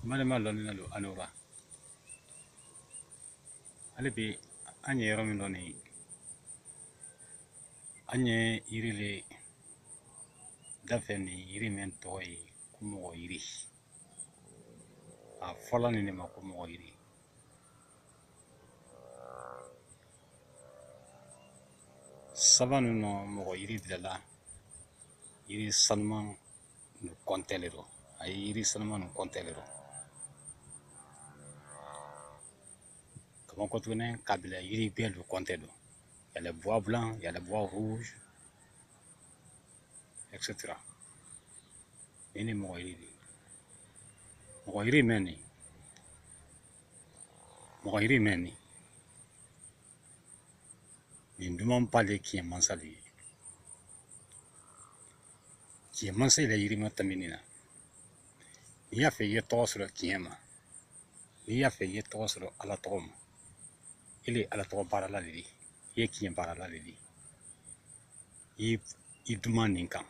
n badenma lɔnninna lu a ni wura hali bi an ye yɔrɔ min dɔ nin an ye yiri le dafɛ nin yiri min tɔgɔ ye ko mɔgɔ yiri a fɔla nin de ma ko mɔgɔ yiri saba ninnu mɔgɔ yiri bilala yiri sanuman lu kɔntɛ le rɔ a ye yiri sanuma nu kɔntɛ le rɔ kama katuguni k'a bila yiri gbɛ lu kɔntɛ dɔ y a le bois blanc y a le bois rouge etc nin ni mɔgɔ yiri di mɔgɔ yiri mɛn nin mɔgɔ yiri mɛn nin nin dumanba le kiɲɛ mansalu ye Kiɲɛ mansa la yiri ma tamin nin na n'i y'a fɛ i ye tɔgɔ sɔrɔ kiɲɛ ma n'i y'a fɛ i ye tɔgɔ sɔrɔ ala tɔgɔ ma i le ala tɔgɔ baarala le di i ye kiɲɛ baarala le di i duman nin kan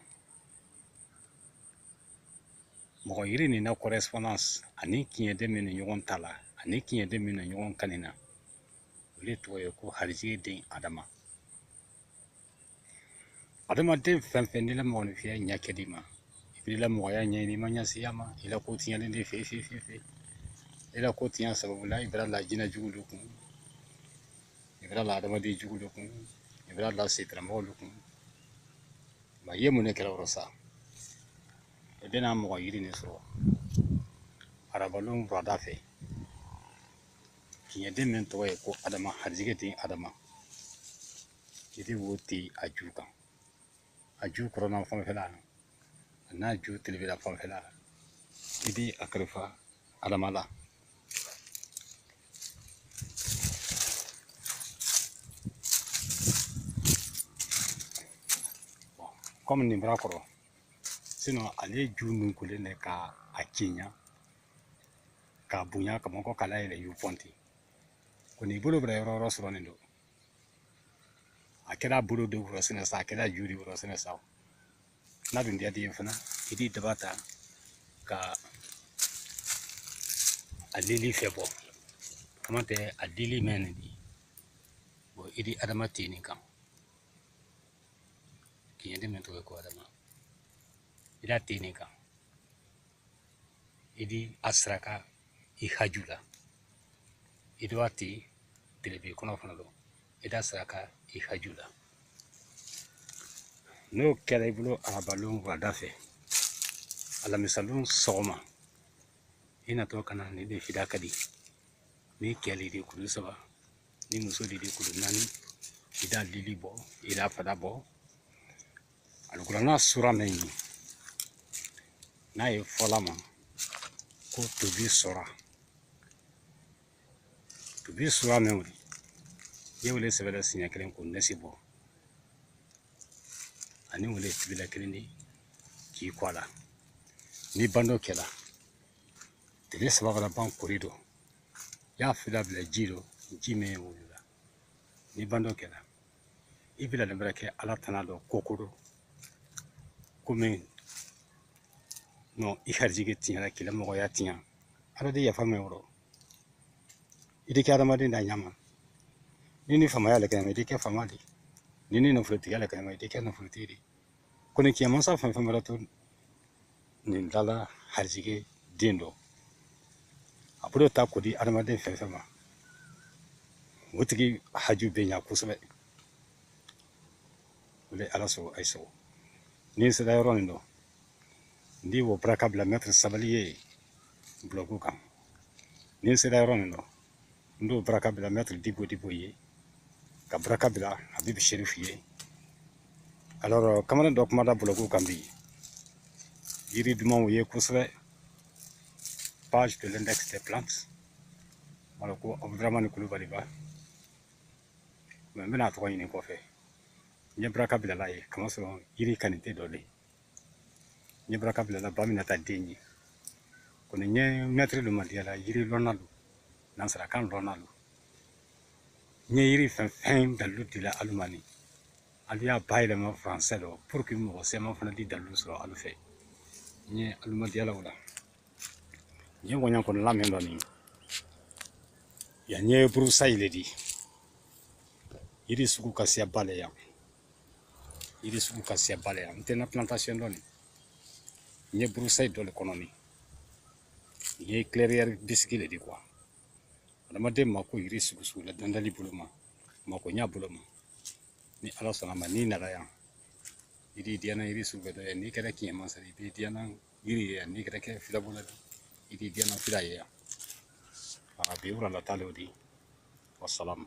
mɔgɔ yiri nin na correspondance ani kiɲɛden min na ɲɔgɔn ta la ani kiɲɛden min na ɲɔgɔn kanin na o le tɔgɔ ye ko harijigɛ den adama adamaden fɛn fɛn n'i la mɔgɔninfinya ɲɛ kɛ di ma i b'i la mɔgɔya ɲɛɲini i ma ɲɛsiya ma i la ko tiɲɛnen de fɛ fe fe fe i la ko tiɲɛ sababu la i bɛra la jinɛ jugu de kun i bɛra la adamaden jugu de kun i bɛra la setaramɔgɔw de kun nka i ye mun de kɛla yɔrɔ sa i bɛna mɔgɔ yiri de sɔrɔ arabalon burada fɛ kiɲɛden min tɔgɔ ye ko adama harijigɛ den adama I di wo tɛ a ju kan a ju kɔrɔn na fanfɛla a n'a ju telebe la fanfɛla i di a karifa adama la kɔmi nin bɛra kɔrɔ ale ju nun kolen bɛ ka a kiɲa k'a bonya ka mɔgɔ k'a layɛlɛ yiri pɔnti ko n'i bolo bɛra yɔrɔ yɔrɔ sɔrɔ nin dɔ a kɛra bolo di wo rɔ sinɛn sa a kɛra ju di wo rɔ sinɛn sa n'a dun diyada i ye fana i di daba ta ka a lili fɛ bɔ k'a matɛ a lili mɛn nin di bɔ i di adama tɛ nin kan kiɲɛden mɛn tɔgɔ ko adama i d'a tɛ nin kan i di a saraka i haju la i dɔ ti belebele kɔnɔ fana don i d'a saraka i haju la n'o kɛra i bolo arabalon wulada fɛ alamisalon sɔgɔma i natɔ ka na ni de fida kadi ni kɛ le i di kuru saba ni muso le i di kuru naani i d'a lili bɔ i d'a fada bɔ alikuranna sura min ye n'a ye fɔla ma ko tuubi sura tuubi sura min wuli i y'o le sɛbɛla siɲɛ kelen k'o nasi bɔ ani o le tibila kelen de k'i ko a la n'i band'o kɛla tile saba fana ban kori dɔ y'a fila bila ji dɔ ji min ye wolo n'i band'o kɛla i bɛ ladon wɛrɛ kɛ ala tana dɔ kokoro komi non i harijigɛ tiɲɛna k'i la mɔgɔya tiɲɛ ala di yafa i ma o rɔ i di kɛ adamaden d'a ɲa ma n'i ni faamaya la kɛnɛma i di kɛ faama di n'i ni nafolotigiya la kɛnɛma i di kɛ nafolotigi di ko ni kiɲɛ mansa fɛn fɛn wɛrɛ to nin dala harijige den dɔ a bolo ta k'o di adamaden fɛn fɛn ma o tigi haju bɛ ɲa kosɛbɛ o de ala sɔrɔ ayi sɔrɔ ni n sera yɔrɔ nin dɔ n di wo baraka bila mɛtiri sabali ye bulɔgu kan ni n sera yɔrɔ nin dɔ n di baraka bila mɛtiri dibo dibo ye ka baraka bila abibu serifu ye alors kamalen dɔ kumada bulɔgu kan bi yiri duman o ye kosɛbɛ page de l'index des plantes wala ko abudramani kulubali ba mɛ n bɛna a tɔgɔ ɲini kɔfɛ n ye baraka bilal'a ye kamasɔrɔ yiri kanite dɔ le ye n ye baraka bilala ba minata den ye kɔni n ye mɛtirilu madiyala yiri lɔnnalu nansarakan lɔnnalu n ye yiri fɛn fɛn dalilu dila alu ma nin alu y'a bayɛlɛma faransɛ dɔ pour que mɔgɔ siyama fana di dalilu sɔrɔ alu fɛ n ye alu madiyala o la n ye ŋɔɲa kɔni lamɛn dɔ nin yan n ye broussaille le di yiri sugu ka siya ba le yan yiri sugu ka siya ba le yan n tɛ n na plantation dɔ nin n ye broussaille dɔ le kɔnɔ nin n ye clairière bisiki le di kuwa adamaden mako yiri sugu sugu la dandali bolo ma mako ɲa bolo ma ni ala sɔnna ma n'i nana yan i d'i diyana yiri sugu bɛɛ dɔ ye n'i kɛra kiɲɛ mansa i b'i diyana yiri ye yan n'i kɛra kɛ filabɔla i b'i diyana fila ye yan a bi wura la ta le o di wasalamu